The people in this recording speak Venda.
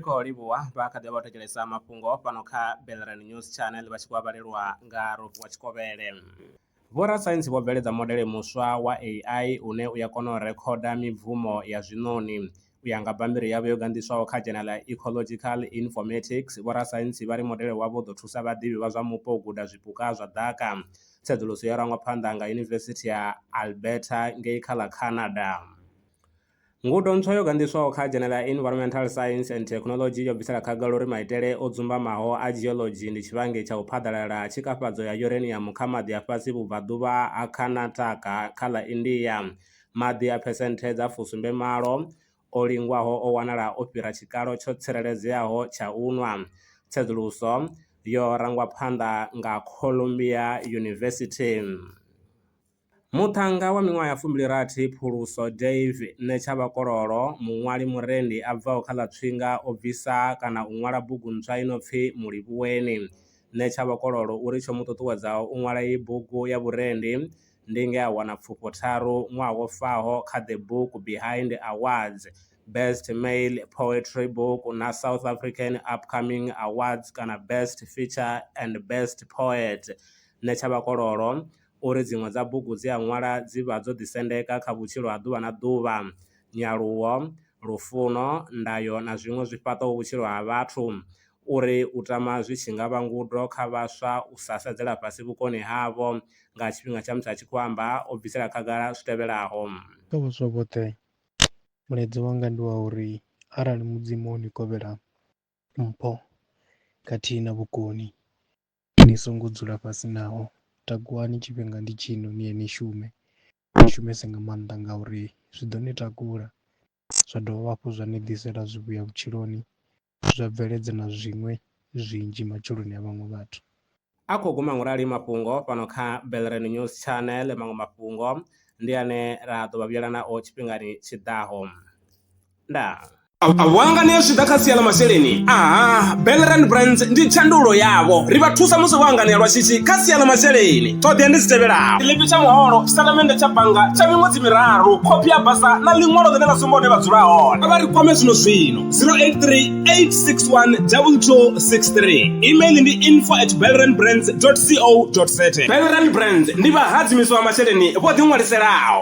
khou livhuwa vha kha ḓi vha thetshelesa mafhungo fhano kha belran news channel vha tshi khou vhalelwa nga rofu wa tshikovhele vhorasaintsi vho bveledza modele muswa wa ai une u ya kona u rekhoda mibvumo ya zwiṋoni U ya nga bammbiri yavho yo ganḓiswaho kha dzhena ḽa Ecological Informatics, vhorasaintsi vha ri modele wavho u ḓo thusa vhaḓivhi vha zwa mupo u guda zwipuka zwa ḓaka. Tsedzuluso yo rangwa phanḓa nga Yunivesithi ya Alberta ngei kha ḽa Canada. Ngudo ntswa yo ganḓiswaho kha dzhena ḽa Environmental Science and Technology yo bvisela khagala uri maitele o dzumbamaho a geology ndi tshivhangi tsha u phaḓalala ha tshikafhadzo ya uranium kha maḓi a fhasi vhubvaḓuvha ha Karnataka kha ḽa India. Maḓi a phesenthe dza fusumbe malo o lingwaho o wanala o fhira tshikalo tsho tsireledzeaho tsha u nwa. Tsedzuluso yo rangwa phanḓa nga Columbia University. Muṱhannga wa miṅwaha ya fumbili rathi Phuluso Dave Netshavhakololo, muṅwali murendi a bvaho kha ḽa Tswinga o bvisa kana u ṅwala bugu ntswa i no pfi Mulivhuweni. Netshavhakololo uri tsho mu ṱuṱuwedzaho u ṅwala iyi bugu ya vhurendi ndi nge a wana pfufho tharu ṅwaha wo faho kha The Book Behind Awards, Best Male Poetry Book na South African Upcoming Awards kana Best Feature and Best Poet. Nṋe Tshavhakololo u ri dziṅwe dza bugu dze a ṅwala dzi vha dzo ḓisendeka kha vhutshilo ha ḓuvha na ḓuvha, nyaluwo, lufuno, ndayo na zwiṅwe zwi fhaṱaho vhutshilo ha vhathu. Uri u tama zwi tshi nga vha ngudo kha vhaswa u sa sedzela fhasi vhukoni havho nga tshifhinga tsha musi a tshi khou amba, o bvisela khagala zwi tevhelaho. Kha vhaswa vhoṱhe, mulaedza wanga ndi wa uri arali Mudzimu o ni kovhela mpho khathihi na vhukoni, ni songo dzula fhasi naho. Takuwani, tshifhinga ndi tshino, ni ye ni shume. Ni shumese nga maanḓa ngauri zwi ḓo ni takula zwa dovha hafhu zwa ni ḓisela zwivhuya vhutshiloni zwa bveledza na zwiṅwe zwinzhi matshiloni a vhaṅwe vhathu. A khou guma ngo rali mafhungo fhano kha Belrand News Channel, maṅwe mafhungo ndi ane ra ḓo vha vhuyela nao tshifhingani tshi ḓaho. Ndaa. Vhanga ni zwi ḓa kha sia ḽa masheleni aha Belrand Brands ndi tshandulo yavho ri vha thusa musi vho hanganea lwa shishi kha sia ḽa masheleni. ṱhoḓea ndi dzi tevhelaho tshiḽipi tsha muholo tshitatamennde tsha bannga tsha miṅwedzi miraru khophi ya basa na ḽiṅwalo ḽine ḽa sumba hune vha dzula hone a vha ri kwame zwino zwino 0838612263 email ndi info at belrandbrands co za belrand brands ndi vhahadzimiswa masheleni vho ḓiṅwaliselaho